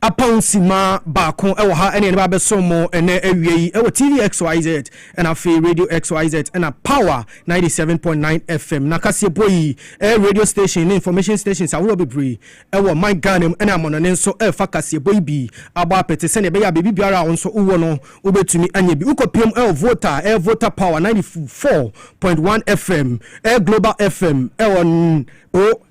Apɔw simma baako wɔ ha ne yɛn ba bɛsom mo nnɛ awia yi wɔ TV XYZ na afei Radio XYZ na Power ninety seven point nine FM. Na kaseɛbɔ yi ɛyɛ radio station ne information stations ahoroɔ bebree wɔ man Ghana mu ne amɔnɔne nso refa kaseɛbɔ yi bi abɔ apete sɛdeɛ ɛbɛyɛ a baabi biara a wo nso wowɔ no wobɛtumi anya bi. Wokɔpiam wɔ Volta ɛyɛ Volta Power ninety four point one FM ɛyɛ Global FM ɛwɔ N. O.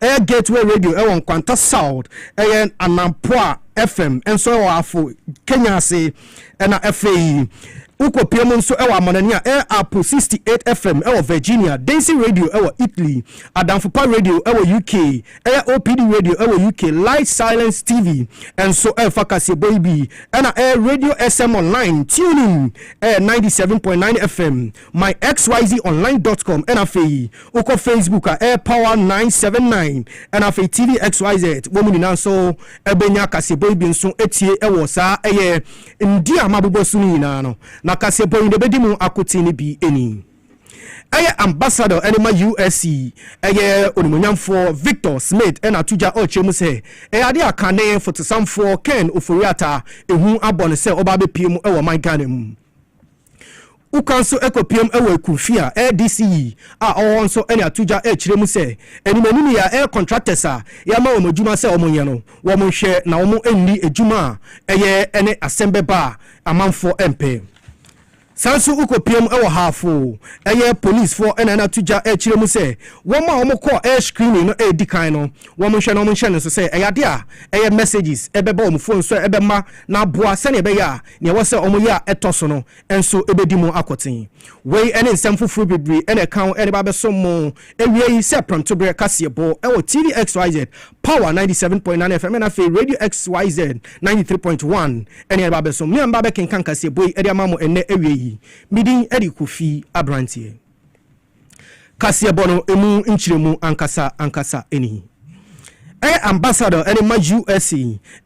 Ɛyɛ Gateway Radio ɛwɔ Nkwanta South, ɛyɛ Anampoa FM nso ɛwɔ Afo, Kenya ase, ɛna ɛfei wokɔ pie mu nso ɛwɔ Amanani a ɛyɛ Apple 68 FM ɛwɔ Virginia, Densi Radio ɛwɔ Italy, Adamfopa Radio ɛwɔ UK, ɛyɛ OPD Radio ɛwɔ UK, Light Silence TV nso ɛfa kaseɛbɔ yi bi, ɛna ɛyɛ Radio SM Online, Tune in ɛyɛ 97.9 FM. myxyzonline dot com ɛna afei wokɔ facebook a ɛyɛ power nine seven nine ɛna afei tv xyz wɔn nyinaa nso ɛbɛnya kaseɛbɔ yi bi nso etie ɛwɔ saa ɛyɛ ndi a mabobɔ so no nyinaa no na kaseɛbɔ yi na ebɛdi mu akoten no bi ɛni ɛyɛ ambassador ɛne ma usc ɛyɛ onimonyamfoɔ victor smith ɛna ato gya ɔkyerɛ mu sɛ ɛyɛ ade a kane fotosamfoɔ ken oforiata ehu abɔ no sɛ ɔba abɛpie mu ɛwɔ man ghana mu. Wo kwan so kopiam wɔ aku fi a ɛyɛ DCE a ɔwɔ hɔ nso ne ato gya kyerɛ mu sɛ anim anim yi a ɛyɛ contractors a yɛama wɔn adwuma sɛ wɔn nyɛ no wɔn nhwɛ na wɔn nni adwuma a ɛyɛ ne asɛm bɛba a amanfoɔ mpɛ. Saa nso wo kopiam wɔ haafo ɛyɛ police foɔ na ato gya kyerɛ mu sɛ wɔn a wɔn kɔ ɛyɛ screening no ɛdi kan no wɔn nhwɛ na wɔn nhyɛ no nso sɛ ɛyɛ adeɛ a ɛyɛ messages ɛbɛba wɔn phone so ɛbɛma na aboa sɛnea ɛbɛyɛ a Nea ɛwɔ sɛ wɔyɛ a ɛtɔ so no nso bedi mu akoten. Wei ne nsɛm foforo bebree na ɛka ho de ba abɛsom mo. Awiei, sɛ prɛmtoberɛ kaseɛbɔ wɔ TV XYZ, Power ninety seven point nine FM, na afei Radio XYZ ninety three point one ne yɛde ba abɛsom. Me a meba abɛkenkan kaseɛbɔ yi de ama mo ɛnnɛ awiei yi, me din de Kofi Aberanteɛ. kaseɛbɔ no emu nkyerɛmu ankasa ankasa ni. Ɛyɛ Ambassador ne ma USA.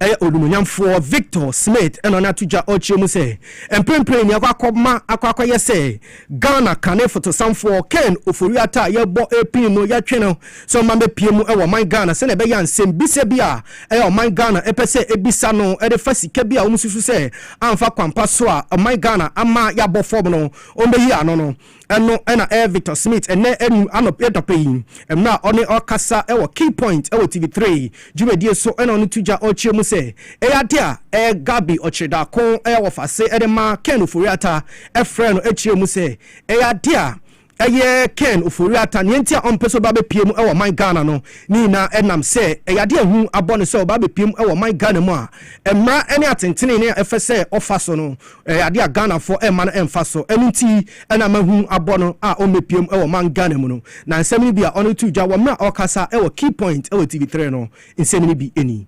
Ɛyɛ Onumonyamfoɔ Victor Smith na ɔne ato dwa ɔkyerɛ mu sɛ, mprempren ni akɔ akɔma akɔ akɔyɛ sɛ Ghana kane fotosanfoɔ Ken Ofori-Atta a yɛbɔ pini no yɛtwe no sɛ ɔmma mmɛpue mu wɔ ɔman Ghana sɛnea ɛbɛyɛ a nsɛmbisa bi a ɔman Ghana pɛ sɛ ɛbisa no de fa sika bi a wɔsusu sɛ amfa kwan pa so a ɔman Ghana ama yɛabɔ fam no wɔbɛyi ano no Ɛno na ɛyɛ Victor Smith ɛnnɛ anum anɔp dɔpɛ yi mmerɛ a ɔne ɔɔkasa wɔ Key Point wɔ TV Three dwumadie so na ɔno to gya ɔɔkyerɛ mu sɛ ɛyɛ adeɛ a ɛyɛ Gabi Ɔkyerɛdaako ɛyɛ wɔfase de ma Ken Ofori-Atta ɛfrɛɛ no ɛkyerɛ mu sɛ ɛyɛ adeɛ a ɛyɛ Ken Ofori-Atta neɛ nti a ɔmpɛ sɛ ɔba bɛpue mu wɔ ɔman Ghana no ne nyinaa ɛnam sɛ ɛyɛ adeɛ a hu abɔ no sɛ ɔba bɛpue mu wɔ ɔman Ghana mu a mmara ne atentenee a ɛfɛ sɛ ɔfa so no Ɛyɛ adeɛ a Ghanafoɔ ɛmma no ɛmfa so, ɛno nti na mahu abɔ no a ɔmmɛpiam ɛwɔ man Ghana mu no. Na nsɛm no bi a ɔno to dwa wɔ mmerɛ a ɔɔkasa ɛwɔ Key Point ɛwɔ TV Three no, nsɛm no bi ɛni.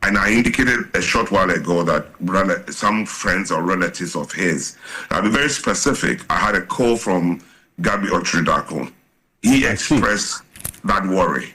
And I indicated a short while ago that rela some friends or relatives of his, I'll be very specific, I had a call from Gabby Okyere Darko, he I see. expressed that worry.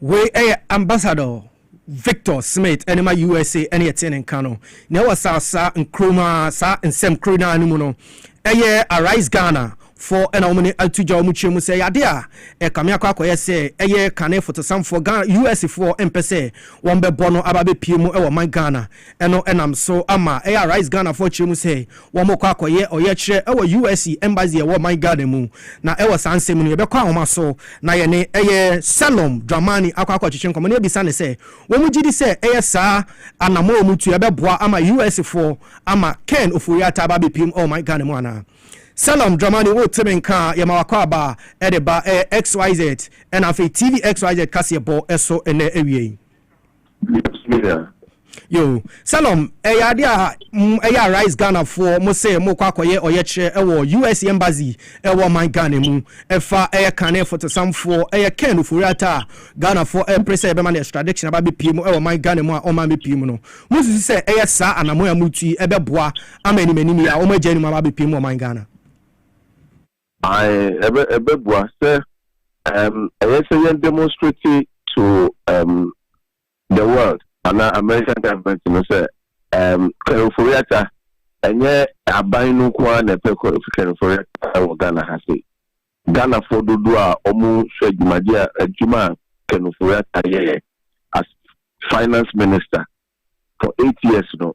Wei yɛ Ambassador Victor Smith ɛde ma USA ɛne ɛte ne nka no. Nea ɛwɔ saa saa nkuro mu ara saa nsɛm koro no ara no mu no ɛyɛ Arise Ghana foɔ ɛna wɔn ne ato gya wɔn kyerɛ mu sɛ ɛyɛ adeɛ a ɛkame akɔ akɔyɛ sɛ ɛyɛ kane fotosamfoɔ Ghana US foɔ mpɛ sɛ wɔn bɛbɔ no aba abɛpie mu ɛwɔ ɔman Ghana Ɛno nam so ama ɛyɛ a Rise Ghanafoɔ kyerɛ mu sɛ wɔkɔ akɔyɛ ɔyɛkyerɛ wɔ US Embassy a ɛwɔ ɔman Ghana mu. Na ɛwɔ saa nsɛm mu no yɛbɛkɔ ahoma so na yɛne ɛyɛ Salom Dramani akɔ akɔtwetwe nkɔmmɔ na yɛabisa no sɛ wɔn gyidi sɛ ɛyɛ saa anamɔ a wɔtu yi ɛbɛboa ama US foɔ ama Ken Ofori-Atta aba abɛpiem wɔ ɔman Ghana mu anaa. Salom Dramani wote me nka a yɛma wakɔ aba de ba ɛyɛ XYZ ɛna afei TV XYZ kaseɛbɔ so ɛnnɛ awia yi. yo salom ɛyɛ adeɛ a ɛyɛ arise ghanafoɔ mo sɛ mokɔ akɔyɛ ɔyɛkyerɛ ɛwɔ us embassy ɛwɔ ɔman ghana mu ɛfa ɛyɛ kane fotosamfoɔ ɛyɛ ken ofori ata a ghanafoɔ ɛpere sɛ ɛbɛma no extradition aba bɛpie mu ɛwɔ ɔman ghana mu a ɔman bɛpie mu no mosusu sɛ ɛyɛ saa anamɔn a motu yi ɛbɛboa ama animanim yi a wɔn agya anim aba bɛpie mu ɔman ghana Ae, ɛbɛ, ɛbɛboa sɛ ɛɛm ɛyɛ sɛ yɛn demonstrate to ɛɛm the world anaa American government no sɛ ɛɛm Kwerenforiata ɛnyɛ aban no nko ara na ɛpɛ Kwerenforiata wɔ Ghana ha sei. Ghanafoɔ dodoɔ a wɔhwɛ dwumadie a adwuma a Kwerenforiata yɛɛ as finance minister for eight years no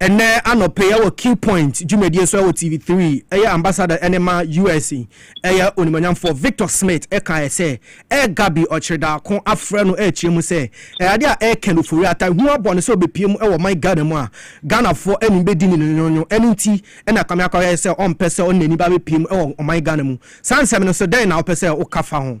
Ɛnnɛ anɔpa yi ɛwɔ Q Point dwumadie so ɛwɔ TV Three ɛyɛ Ambassador ɛne ma US ɛyɛ Onimuonyamfoɔ Victor Smith ɛkaeɛ sɛ ɛyɛ Gabi Ɔkyerdaako afrɛ no ɛrekyerɛ mu sɛ ɛyɛ adeɛ a ɛrekɛ no ofori ata hunu abɔ no sɛ ɔbɛpue mu ɛwɔ ɔman Ghana mu a Ghanafoɔ anim bɛdi no nyonnyonyo ɛno nti ɛna Kwame Akwah yɛɛ sɛ ɔmpɛ sɛ ɔne n'ani ba bɛpue mu ɛwɔ ɔman Ghana mu saa nsɛm no so dɛn na wopɛ sɛ woka fa ho?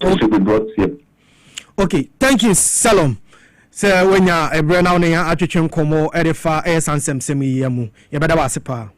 It should be brought here. Okay, thank you Salom. Sɛ wanya ɛberɛ na wo ne yɛn atwetwe nkɔmmɔ de fa ɛyɛ saa nsɛmsɛm yi yɛ mu, yɛbɛda wɔ ase paa.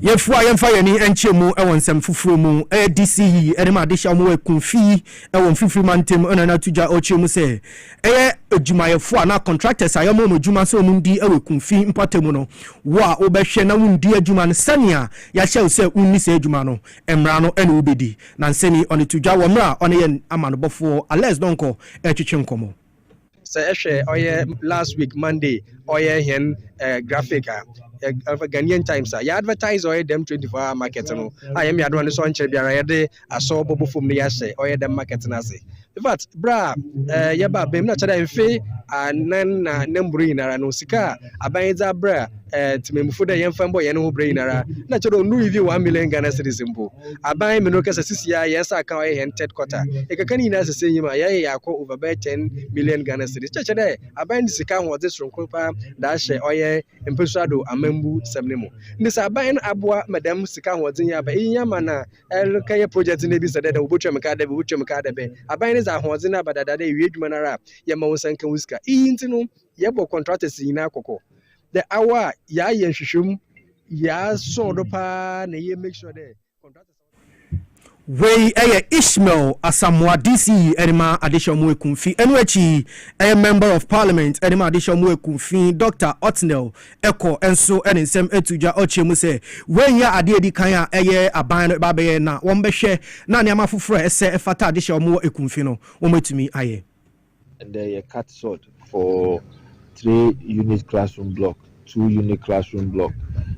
yɛfua yɛmfa yɛn ani nkyɛ mu wɔ nsɛm foforɔ mu ɛyɛ dc yi ne ma adehyɛ wɔn wɔ akunfi wɔ mfimfini mantam ɛna na tugya ɔkyerɛ mu sɛ ɛyɛ adwumayɛfoɔ a na contractors a yɛma wɔn adwuma sɛ wɔn di wɔ akunfi mpɔtam no wo a wobɛhwɛ na wondi adwuma no sɛnea Yɛahyɛ wo sɛ wonni saa adwuma no, mmara no ne wo bɛdi. Nansani yi, ɔne to dwa wɔ mmerɛ a ɔne yɛn amanobɔfoɔ Alex Donkor retwetwe nkɔmmɔ. Sɛ ɛhwɛ ɔyɛ last week Monday ɔyɛ hɛn graphic a, Ghanaian Times a yɛ advertise ɔyɛ dɛm twenty four hour market no a yɛ mmeadowa no so ɔnnkyɛr biara yɛdze. asɔ ɔbɔ bɔ fam na yɛahyɛ ɔyɛ dɛm market no ase in fact berɛ a eh, yɛba aban mu na kyerɛ dɛ mfe anan na na mmoro nyinara no sika a aban yi dze abrɛ eh, temammufo dɛ yɛmfa mbɔ yɛn ho berɛ nyinara na kyerɛ dɛ ɔnu even one million ghana cedis mpo aban mene kasa sisi a yɛn sa ka ɔyɛ yɛn third quarter ɛkaka no nyinaa sese nyim a yɛyɛ yɛakɔ over bɛyɛ ten million ghana cedis kyerɛ dɛ aban de sika ahoɔdze soronko paa da ahyɛ ɔyɛ mpasuado amambu sɛm no mu ne sɛ aban no aboa ma dɛm sika ahoɔdze yi aba iyi ama na rekɛyɛ projɛt no bisa dɛ, dɛ wobotua me kar dɛ bɛn, wobotua me kar dɛ bɛn. Aban no dze ahoɔdzen aba dada dɛ ewie edwuma no ara a, yɛma wo nsa nka wo sika. Iyi ntsi no, yɛbɔ contractors nyina kɔkɔ dɛ aw a, yɛayɛ nhwehwɛmu, yɛasɔw do paa na ye make sure dɛ contractors a wɔtaa yɛ edwuma no bɔkɔ. Wei yɛ Ishmael Asamoah DC de ma Adehyɛmu Ekum fi. Ɛno akyi yi, ɛyɛ Member of Parliament de ma Adehyɛmu Ekum fi Doctor Otnel kɔ nso ne nsɛm to dwa. Ɔkyerɛ mu sɛ, Wei nyɛ adeɛ a ɛdi kan a ɛyɛ aban no ba bɛyɛ na wɔbɛhwɛ na nneɛma foforɔ a ɛsɛ ɛfata adehye a wɔwɔ Ekumfi no, wɔatumi ayɛ. Ɛnnɛ yɛ cut sod for three unit classroom block, two unit classroom block,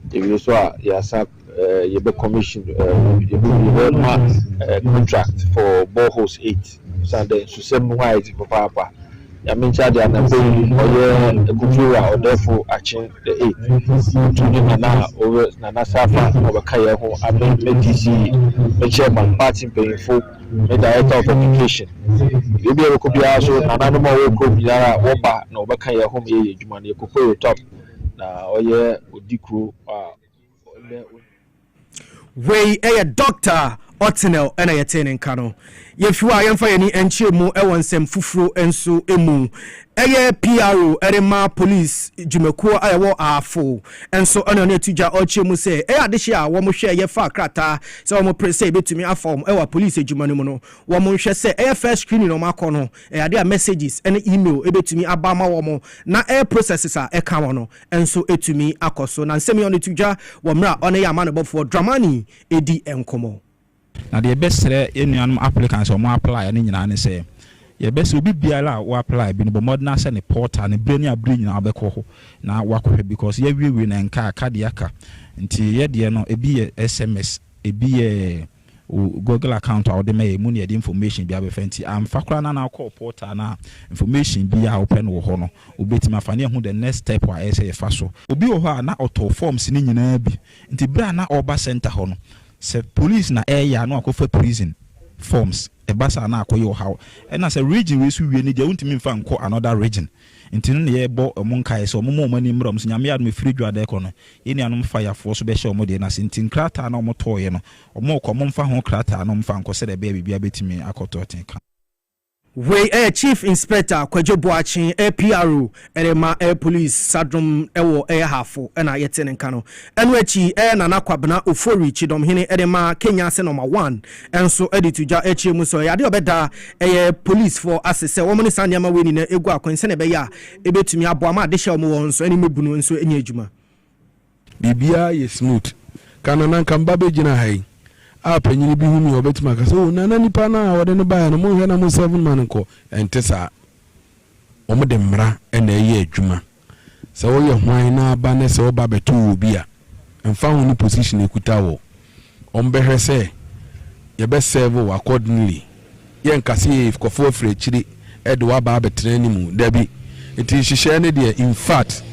yɛwie nso a yɛasan. eh, you be commission, eh, you be you be ma eh, contract for boreholes eight. Send the susem no ayɛ ti papa papa. Yàmi nkyɛn adi anambo yi ɔyɛ ekutu a ɔdɛfo akyen the eight. Otu ne nana ɔwɛ nana safa na ɔbɛka yɛn ho ame me DC me chairman party mpanyinfo me director of education. Ebi a ɛkɔ biara so nana no ma ɔwɔ kurom nyinaa wɔba na ɔbɛka yɛn ho ma yɛyɛ adwuma no yɛ kokoye top na ɔyɛ odi kuro a. Wei yɛ Dɔkta Otnel na yɛtee ne nka no. Yɛfi hɔ a, yɛmfa yɛn ani nkyerɛ mu wɔ nsɛm foforo nso mu. Ɛyɛ PRO de ma polisi dwumakuo a ɛwɔ Ahafo nso na ɔne ato dwa ɔkyerɛ mu sɛ ɛyɛ adehye a wɔhwɛ yɛfa krataa sɛ wɔpere sɛ yɛbɛtumi afa wɔn wɔ polisi adwuma no mu no. Wɔnhwɛ sɛ ɛyɛ first screening na wɔakɔ no, ɛyɛ adeɛ a messages ne email bɛtumi aba ama wɔn na ɛyɛ processes a ɛka wɔn no. nso atumi akɔ so. Na nsɛm yi a ɔno to dwa wɔ mmerɛ a ɔno yɛ amanebɔfoɔ Dramani redi nkɔmmɔ. Na deɛ yɛbɛsrɛ yɛn nuanom applicants a wɔn apply no nyinaa ne sɛ, yɛbɛsrɛ obi biara a wo apply bi no bɔ mmɔden ara sɛ ne portal no berɛ ne aberɛ nyinaa wobɛkɔ hɔ na woakɔhwɛ because yɛawiewie no ɛnka a ka deɛ aka nti yɛdeɛ no ebi yɛ sms ebi yɛ Wo Google account a wode ma yɛn mu na yɛde information bi abɛfa nti, amfa koraa na na wokɔɔ portal no a, information biara a wopɛ no wɔ hɔ no, wobɛtumi afa na yɛahu the next step a ɛyɛ sɛ yɛfa so. Obi wɔ hɔ a na ɔtɔɔ forms no nyinaa bi nti berɛ a na ɔreba centre hɔ no, sɛ police na ɛreyɛ a na wakɔfa prison forms, ɛba saa a na akɔyɛ ɔhaw. Ɛna sɛ region wei so wie no deɛ wontumi mfa nkɔ another region. Nti no na yɛbɔ ɔmo nkaeɛ sɛ ɔmo ma ɔmo ani mmra ɔmo so, Nyame adom ɛfiri adwuma da rekɔ no, yɛn nuanom fa yafoɔ so bɛhyɛ ɔmo deɛ no ase, nti nkrataa no a ɔmo tɔɔeɛ no, ɔmo rekɔ ɔmo mfa ho krataa no mfa nkɔ sɛdeɛ ɛbɛyɛ a biribiara bɛtumi akɔ tɔ tee kama. Wei yɛ Chief Inspector Kwadwo Boakye, PRO, rema Police Sadrom wɔ Ahafo na yɛte ne nka no. Ɛno akyi, Nana Kwabena Ofori, Kyidɔmhene, de ma Kenya sɛ Nɔma One nso de to dwa kyerɛ mu sɛ ɔyɛ ade a ɔbɛda ɛyɛ polisfoɔ ase sɛ wɔn ne saa nneɛma wei nyinaa gu akwan sɛnea ɛbɛyɛ a ɛbɛtumi aboa ma adehyɛ a wɔn wɔ hɔ nso anim abu no nso anya adwuma. Biribiara yɛ smooth. Ka Nana anka me ba bɛgyina ha yi a panyini bi hu me a ɔbɛtumi aka sɛ, oh Nana nipa no a wɔde no baeɛ no monhwɛ na mo serve no ma no nkɔ. Ɛnte saa. Wɔde mmara na ɛyɛ adwuma. Sɛ woyɛ hwan naa ba nɛ sɛ wo ba bɛto wo obi a, ɛmfa ho ne position ɛkuta wɔ, wɔn bɛhwɛ sɛ yɛbɛ serve wo accordingly. Yɛ nka sɛ yɛyɛ fkɔfo afiri akyire ɛde wo aba abɛtena anim. Dabi. Nti nhyehyɛɛ no deɛ infact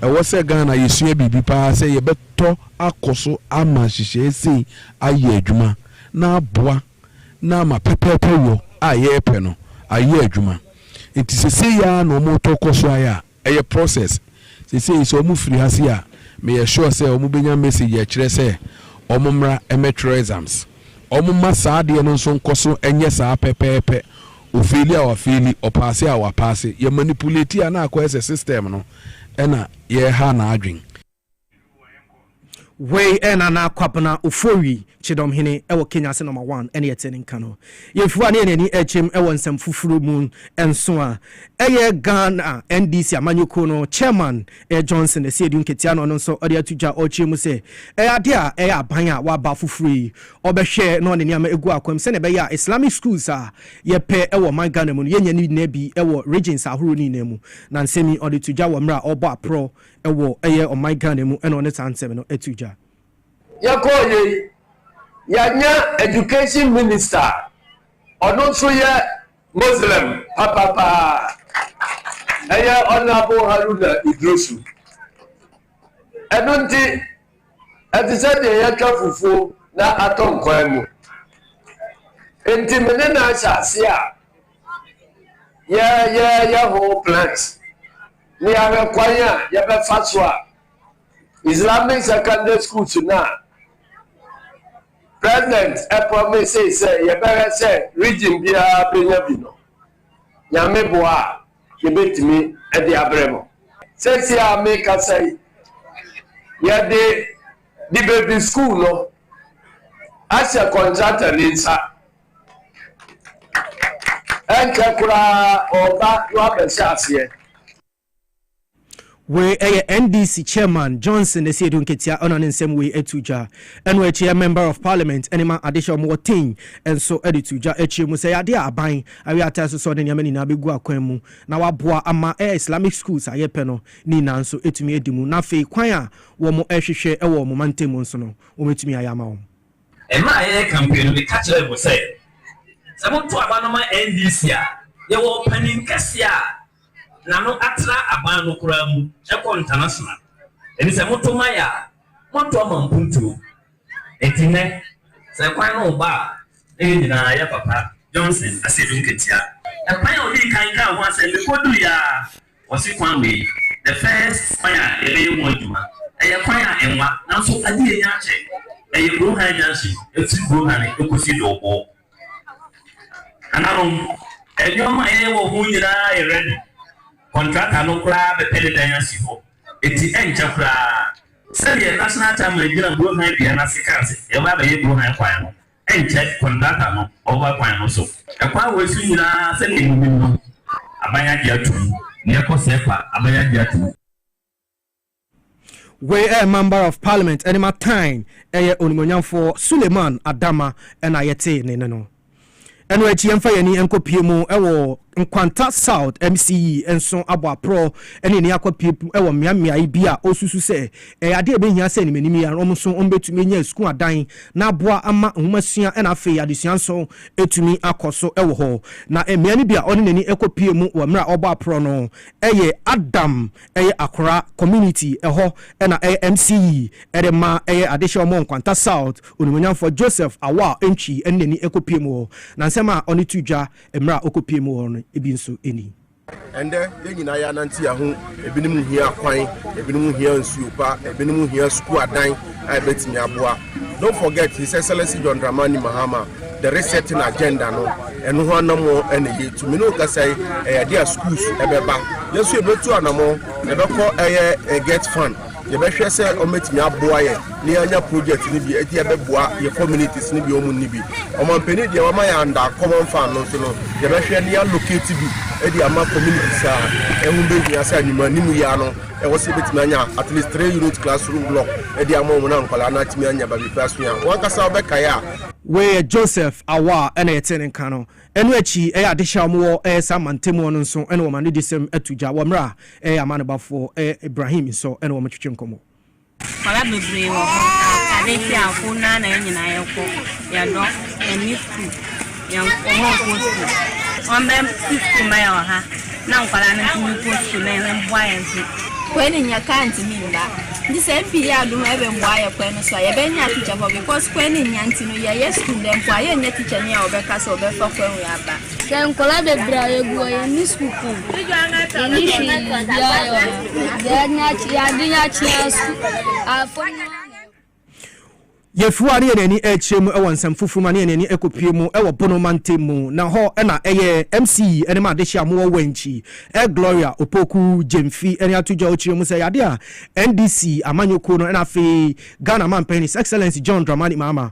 ɛwɔ sɛ Ghana yɛsua biribi paa sɛ yɛbɛtɔ akɔ so ama nhyehyɛɛ sei ayɛ adwuma na aboa. na ama pɛpɛɛpɛ wɔ a yɛrepɛ no ayɛ adwuma. Nti sesei ara na wɔretɔ kɔ so ayɛ a ɛyɛ process. Sesei sɛ wɔn firi ha sei a, meyɛ sure sɛ wɔn bɛnya message a ɛkyerɛ sɛ wɔn mmra mmɛtwerɛ exams. Wɔn mma saa adeɛ no nso nkɔ so nyɛ saa pɛpɛɛpɛ. Ɔfeeli a wafeeli, ɔpaase a wapaase. Yɛ manipulate a na akɔyɛ sɛ system no na yɛreha n'adwene. Wei yɛ Nana Kwabena Ofori, Kyedɔm hene wɔ Kenya ase nɔma one ɛne ɛte ne nka no. Yɛn firi hɔ a ne yɛn ani ɛrekyem wɔ nsɛm foforo mu nso a ɛyɛ Ghana NDC amanyɔkuo no Chairman Johnson Asiedu Nketia na ɔno nso ɔde ato dwa ɔrekyerɛ mu sɛ ɛyɛ adeɛ a ɛyɛ aban a waba foforo yi ɔbɛhwɛ na ɔde nneɛma agu akwam sɛdeɛ ɛbɛyɛ a Islamic schools a yɛpɛ wɔ ɔman Ghana mu no yɛnya ne nyinaa bi wɔ regions ahoroɔ ne nyinaa mu na nsɛm yi ɔde to dwa wɔ mmerɛ a ɔrebɔ aporɔ ɛwɔ ɛyɛ ɔman Ghana mu ɛna ɔne saa nsɛm no ɛtu dwa. Yɛkɔɔ yɛ yi yɛanya education minister a ɔno nso yɛ Muslim papapaa ɛyɛ Honourable Haruna Idrisu ɛno nti ɛte sɛ deɛ yɛatwa fufuo na atɔ nkwan mu nti me ne no ahyɛ ase a yɛyɛyɛ ho plans. Ne yɛahwɛ kwan a yɛbɛfa so a Islamic secondary schools no a president promise sɛ yɛbɛhwɛ sɛ region biara bɛnya bi no nyame boa a yɛbɛtumi de abrɛ mu sɛsi a mekasa yi yɛde de baabi school no ahyɛ contractor ne nsa Ɛnkyɛ koraa ɔba no abɛhyɛ aseɛ. Wei ɛyɛ NDC chairman Johnson Asiedu Nketia ɛna ne nsɛm wei ɛtu dwa. Ɛno akyi ɛ member of parliament ɛne ma adehyɛ a wɔn wɔ Tei nso ɛde tu dwa ɛkyerɛ mu sɛ ɛyɛ adeɛ a aban awie ate asosɔ ne nneɛma nyinaa bɛgu akwan mu na waboa ama ɛ Islamic schools a yɛpɛ no ne nyinaa nso ɛtumi adi mu na afei kwan a wɔn ɛhwehwɛ ɛwɔ wɔn mantam mu nso no wɔn ɛtumi ayɛ ama wɔn. Mmerɛ a yɛyɛ campaign no, meka kyerɛɛ mo sɛ, sɛ moto aba no ma NDC a, yɛwɔ ɔpanin kɛseɛ a n'ano atra aban no koraa mu kɔ international. Enti sɛ moto ma yɛ a, moato ama mpuntuo. Enti nnɛ, sɛ kwan no reba a, na yɛn nyinaa yɛ papa. Johnson Asiedu Nketia, kwan a ɔdii kan kaa ho asɛm, mekɔduruiɛ ara, Wɔse kwan wei, the first kwan a yɛbɛyɛ ho adwuma, ɛyɛ kwan a ɛnwa, nanso ade a ɛnya akyɛ, ɛyɛ Burohan junction, ɛfiri Burohane ɛkɔsi Dɔɔbɔɔ. Nananom, nneɛma a yɛyɛ wɔ ho nyinaa yɛ ready, kɔntrata no koraa bɛpɛ ne dan asi hɔ, enti ɛnkyɛ koraa, sɛdeɛ National Chairman gyina Burohan dua no ase kaa sɛ, yɛbɛba abɛyɛ Burohan kwan no. Ɛnkyɛ kɔntrata no ɔba kwan no so. Ɛkwan wei so nyinaa sɛdeɛ monim no aban agye ato mu. Deɛ ɛkɔ sɛɛ kwa aban agye ato mu. Wei ɛyɛ Mamber of Parliament ɛne Matain ɛyɛ Onimuonyamfoɔ Suleiman Adama ɛna yɛtee ne nne no. Ɛno akyi yɛmfa yɛn ani nkɔ pie mu ɛwɔ Nkwanta South MCE nso abɔ aprɔ ne ani akɔ piapu wɔ mmeammeae bi a ɔsusu sɛ ɛyɛ ade a ɛbɛhia sɛ animanim yi ara wɔn nso wɔbɛtumi anya asukuu adan na aboa ama nwomasua na afei adesua nso atumi akɔ so wɔ hɔ. Na mmea no bi a ɔde n'ani kɔpuee mu wɔ mmerɛ a ɔbɔ aprɔ no yɛ Adam, ɛyɛ Akora Community, ɛhɔ na ɛyɛ MCE de ma ɛyɛ adehyeɛ ɔmmɔ Nkwanta South onimuonyamfoɔ Joseph Awal Antwi de n'ani kɔpuee mu wɔ na nsɛm a ɔde to dwa Mmerɛ a ɔkɔpuee mu hɔ no bi nso ni. Ɛndɛ yɛn nyinaa yɛ anante yɛn ho, ebinom hia akwan, ebinom hia nsuo pa, ebinom hia sukuu adan a ɛbɛtumi aboa. Don't forget His Excellency John Dramani Mahama, the resetting agenda no, ɛno ho anammɔn na yɛ tu. Me ne wo kasa yi, ɛyɛ adeɛ a schools ɛbɛba. Yɛn nso yɛbɛtu anammɔn, yɛbɛkɔ ɛyɛ get fund. Yɛbɛhwɛ sɛ wɔbɛtumi aboa yɛn na yɛanya project no bi, ɛti ɛbɛboa yɛn communities no bi a wɔn nni bi. Ɔmanpanin deɛ wama yɛn under common fund no nso no, yɛbɛhwɛ na yɛallocate bi de ama communities a ɛho bɛhia sɛ anwummerɛ anim yi ara no ɛwɔ sɛ yɛbɛtumi anya at least three unit classroom block de ama wɔn na nkwadaa no atumi anya baabi pa asua. Wɔn ankasa wobɛkae a, Wei yɛ Joseph Awah na yɛtee ne nka no. Ɛno akyi, ɛyɛ adehye a wɔwɔ Ɛyɛ saa mantamu hɔ no nso na wɔma no disɛm to dwa wɔ mmerɛ a Ɛyɛ amanebafo Ibrahim nso na wɔtwetwe nkɔmmɔ. Kwabea bebree wɔ hɔ a ade kye a ko no ara na yɛn nyinaa yɛkɔ. Yɛdɔ, yɛne sukuu, yɛn wɔn a wɔkɔ sukuu. Wɔmmɛsi sukuu mma yɛn wɔ ha na nkwadaa no ntumi nkɔ sukuu na yɛn mmoa yɛn so. Kwan no nyɛ kaa ntumi mma nti sɛ MP yɛ adom a ɛbɛmmoa yɛ kwan no so a yɛbɛnya teacher foɔ because kwan no nnya nti no yɛyɛ sukuu nnɛ mpo a yɛnnya teacher ni a ɔbɛka sɛ ɔbɛfa kwan wei aba. Sɛ nkwadaa bebree a yɛgu wɔ yɛn ne sukuu pɔn yɛnni hwee biara yɛ wɔ ha deɛ yɛde akye yɛade yɛ akye asu afam no ara na ɛwɔ. Yɛfiri hɔ a na yɛn ani rekyerɛ mu wɔ nsɛm foforo mu a na yɛn ani kɔpue mu wɔ Bono mantam mu na hɔ na ɛyɛ MC ne m'adehye a mowɔ Wanchi, Gloria Opoku Gyamfi ne ato dwa a ɔkyerɛ mu sɛ ɛyɛ adeɛ a NDC amanyɔkuo no na afei Ghana manpanin His Excellency John Dramani Mahama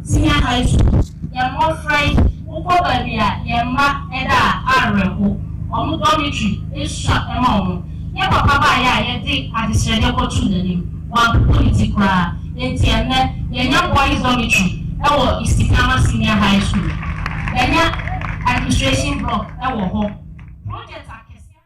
Senior High School, yɛn mmɔfra yi, wokɔ baabi a yɛn mma da a, awerɛho. Wɔn dormitory, esua ma wɔn. Yɛn papa baeɛ a yɛde adesrɛdeɛ kɔtoo n'anim, wɔampopo ne ti koraa. Enti ɛnnɛ, yɛanya boys dormitory wɔ Isipiama Senior High School. Yɛanya administration block wɔ hɔ. Project akɛseakɛseɛ.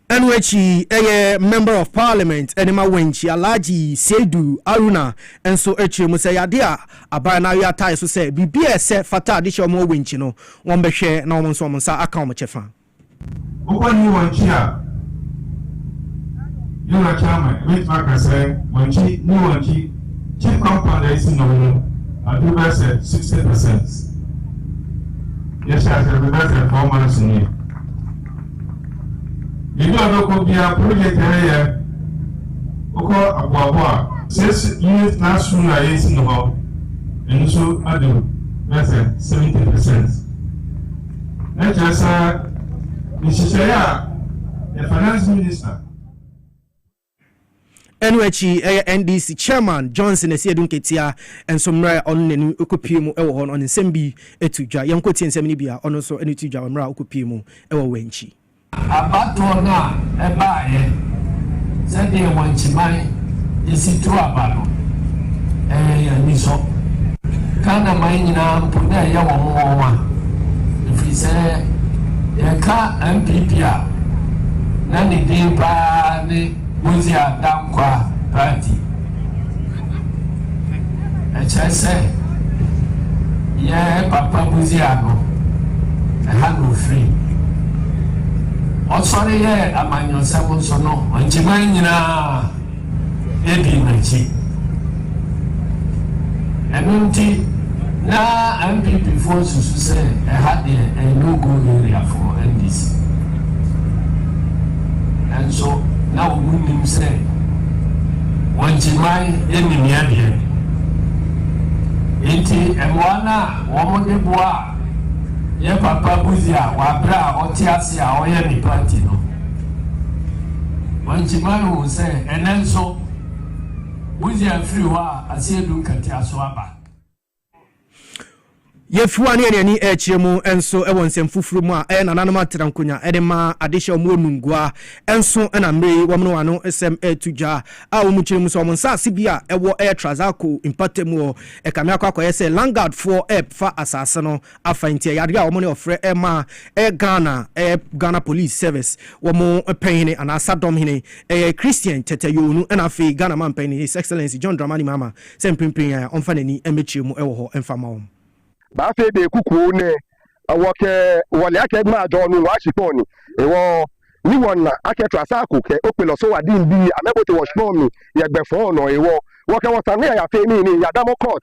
Ɛno akyi ɛyɛ Member of Parliament ne ma Wenchi, Alhaji Seidu Aruna nso kyerɛ mu sɛ ɛyɛ adeɛ a aban no awe atae so sɛ biribi a ɛsɛ fata de hyɛ wɔn wɔ Wenchi no wɔn bɛhwɛ na wɔn nso wɔn nsa aka wɔn kyɛfa. Wokɔ new Wenchi a, yɛwura Chairman bɛtumi aka sɛ Wenchi, new Wenchi chief compound a ɛsi no mu aduru bɛyɛ sɛ sixty percent. Yɛhyɛɛ aseɛ no bɛyɛ sɛ four months nie. Yɛne ɔdɔ kɔ biara project a ɛyɛ wokɔ aboabo a. Six unit class room na yɛsi no hɔ ɛno nso adu bɛyɛ sɛ seventy percent na kyerɛ sɛ nhyehyɛeɛ a yɛ finance minister. Ɛno akyi, ɛyɛ NDC Chairman Johnson Asiedu Nketiah nso mmerɛ a ɔno n'ani kɔpue mu wɔ hɔ no, ɔde nsɛm bi too dwa. Yɛnkɔ tie nsɛm no bi a ɔno nso ɛde too dwa wɔ mmerɛ a ɔkɔpue mu wɔ Wankyi. Abatoɔ no a ɛbaeɛ sɛdeɛ Wankyiman si tu aba no, ɛyɛ yɛn anisɔ. Ghana man nyinaa mpo na ɛyɛ wɔn nwonwa ɛfiri sɛ yɛka NPP a, na ne din paa ne Bosia Dankwah Party. Ɛkyerɛ sɛ yɛ papa Bosia no, ɛha na ofiri. Ɔsɔre yɛɛ amanyɔsɛm nso no, ɔgye man nyinaa. di n'akyi. Ɛno nti na NPP foɔ susu sɛ ɛha deɛ ɛyɛ no go area for NDC. Nanso na wɔn nim sɛ wɔn kyiman nim yɛ deɛ. Nti mmoa no a wɔn de boa yɛ papa Buzi a wabrɛ a ɔte ase a ɔyɛ ne party no. Wɔakyima no sɛ ɛnnɛ nso, wogye afiri hɔ a, ase adu nkatia so aba. Yefi hɔ a, ne yɛn ani rekyerɛ mu nso wɔ nsɛm foforo mu a ɛyɛ nananom atera nkonwa de ma adehye a wɔwɔ Nungua nso na mmere yi wɔne wɔn ano nsɛm reto dwa a wɔkyerɛ mu sɛ wɔn nsase bi a ɛwɔ Trasacco mpɔtam wɔ Kamiako akɔyɛ sɛ Langadfoɔ refa asase no afa nti ɛyɛ adeɛ a wɔn ne ɔfrɛ ɛma ɛyɛ Ghana ɛyɛ Ghana Police Service wɔn pɛnhene anaa sadɔm hene ɛyɛ Christian Tete Yoonu ɛna afei Ghana manpanin His Excellency John Dramani Mahama sɛ mprempren yi ara ɔmfa n'ani mmɛkyerɛ mu ɛwɔ hɔ mfa mma wɔn. Ba afei de kukuo nɛ ɛwɔ kɛ wɔ lɛ akɛ ma jɔ nu wa shipɔn ni ewɔ ni wɔn na akɛ tra sa ko kɛ okpe lɔ so wa din bi amɛ bote wɔ shipɔn mi yɛ gbɛ fɔn nɔ ewɔ wɔ kɛ wɔ sa nɛ ya fe mi ni ya damɔ kɔt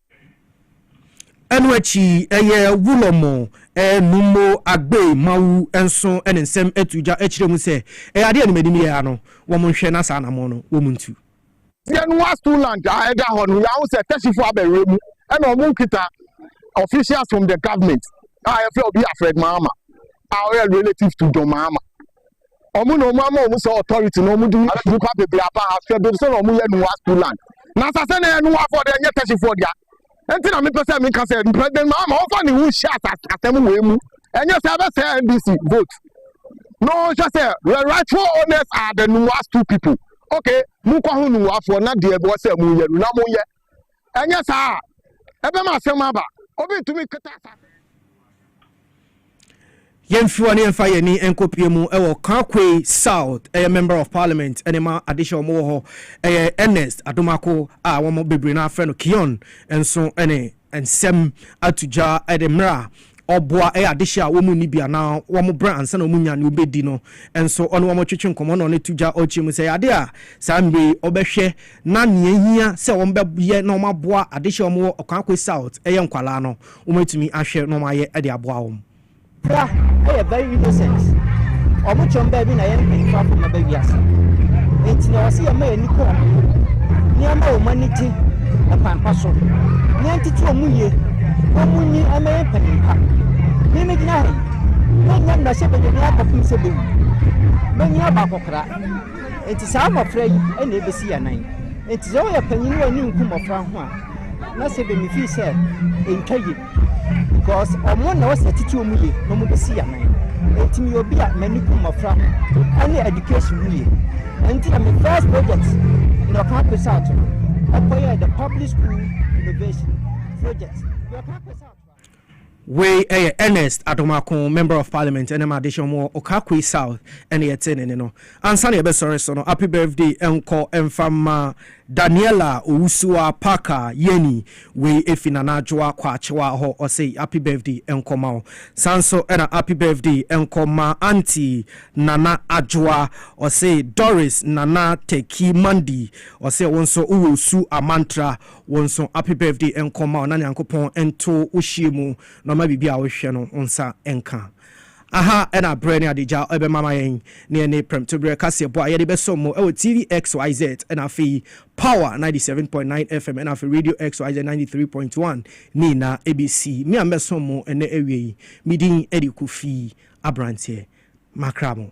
Ɛno akyi ɛyɛ Wulomo Nummo Agbei Mawu nso ne nsɛm atu gya kyerɛ mu sɛ ɛyɛ adeɛ a ne m'anim yɛ ara no, wɔnhwɛ na saa anammɔn no wɔntu. Sianua Stuland a ɛda hɔ no, yɛahu sɛ Tɛsifo abɛwerɛ mu na wɔkita officials from the government a yɛfrɛ Obi Alfred Mahama a ɔyɛ relative to John Mahama. ɔmo na ɔmo ama ɔmo sɛ authority na ɔmo de nipa bebree aba ha hwɛ baabi sɛ na ɔmo yɛ nua school land na asase na yɛ nua afɔ de ɛnyɛ tɛsifoɔ dea nti na mepɛ sɛ meka sɛ president mahama ɔmfa ne ho nhyɛ asɛm wei mu ɛnyɛ sɛ ɛbɛsɛ ndc vote na ɔnhwɛ sɛ the rightful owners are the nua school people okay mokɔ ho nua afɔ na deɛ ɛbɔ sɛ mo yɛ no na mo yɛ Ɛnyɛ saa a, ɛbɛma asɛm aba. Obi ntumi nkata asase. Yɛmfi hɔ na yɛmfa yɛn ani nkɔpue mu wɔ Kakwei South, ɛyɛ Member of Parliament ne ma adehyɛ wɔn wɔ hɔ, ɛyɛ Ernest Adomako a wɔn bebree no ara frɛ no Kion nso ne nsɛm ato dwa de mmerɛ a Ɔboa ɛyɛ adehye a wɔn nni bi anaa wɔn brɛ ansa na wɔnya nea wɔbɛdi no nso, ɔne wɔn twetwe nkɔmmɔ na ɔne to gya ɔrekyɛ mu. Sɛ ɛyɛ ade a saa mmere yi ɔbɛhwɛ na nea ɛhia sɛ wɔbɛyɛ na wɔaboa adehye a wɔwɔ Okwaakwe South yɛ nkwadaa no, wɔatumi ahwɛ na wɔayɛ de aboa wɔn. Pra yɛ very innocent, ɔmo kyɛm baabi na yɛn mpanyinfo afa ɔmo aba wiase. Enti na wɔse yɛmma yɛn ani kɔ ɔmo ho, na yɛmma wɔn ani gye ɛkwan pa so, na yɛntete wɔn yie. na munyi ɔmmɛyɛ mpanyin pa. Me megyina ha yi, mennya mmarahyɛbadwani akɔpem sɛ bewu. Manyin aba akɔkora, enti saa mmofra yi na ebesi yɛn anan. Enti sɛ woyɛ panyin wɔ ani nku mmofra ho a, na sɛ bɛmi fii sɛ ɛntwa ye. Because ɔmo na wɔsɛ titi ɔmo ye na ɔmo besi yɛn anan. Enti meyɛ obi a m'ani ku mmofra ho ɛne education ho ye. Ɛnti na me first project na ɔka apesa ato no ɛkɔyɛ the public school innovation. project. Wei yɛ Ernest Adomako, Member of Parliament ɛne Madehye wɔn wɔ Okakwe South ɛne yɛte ne ne no. Ansa na yɛbɛsɔre so no, happy birthday nkɔ mfa mma Daniela Owusuwa Parker Yeni, wei efi Nana Adwoa Kwakyewa hɔ, ɔse happy birthday nkɔ ma wo. Saa nso na happy birthday nkɔ ma Aunty Nana Adwoa, ɔse Doris Nana Teki Mandi, ɔse wo nso wowɔ Osu Amantra, Wo nso happy birthday nkɔ mma wo na Nyankopɔn nto wo hyeɛ mu na ɔma biribi a wohwehwɛ no wo nsa nka. Aha na aberɛ ne adagya bɛma ama yɛn na ɛne prɛmtoberɛ kaseɛbɔ a yɛde bɛsɔ mo wɔ TV XYZ na afei Power 97.9 FM na afei Radio XYZ 93.1 ne nyinaa bɛsi. Me a mɛsɔ mo ɛnɛ awia yi, me din de Kofi Aberanteɛ. Makra mo.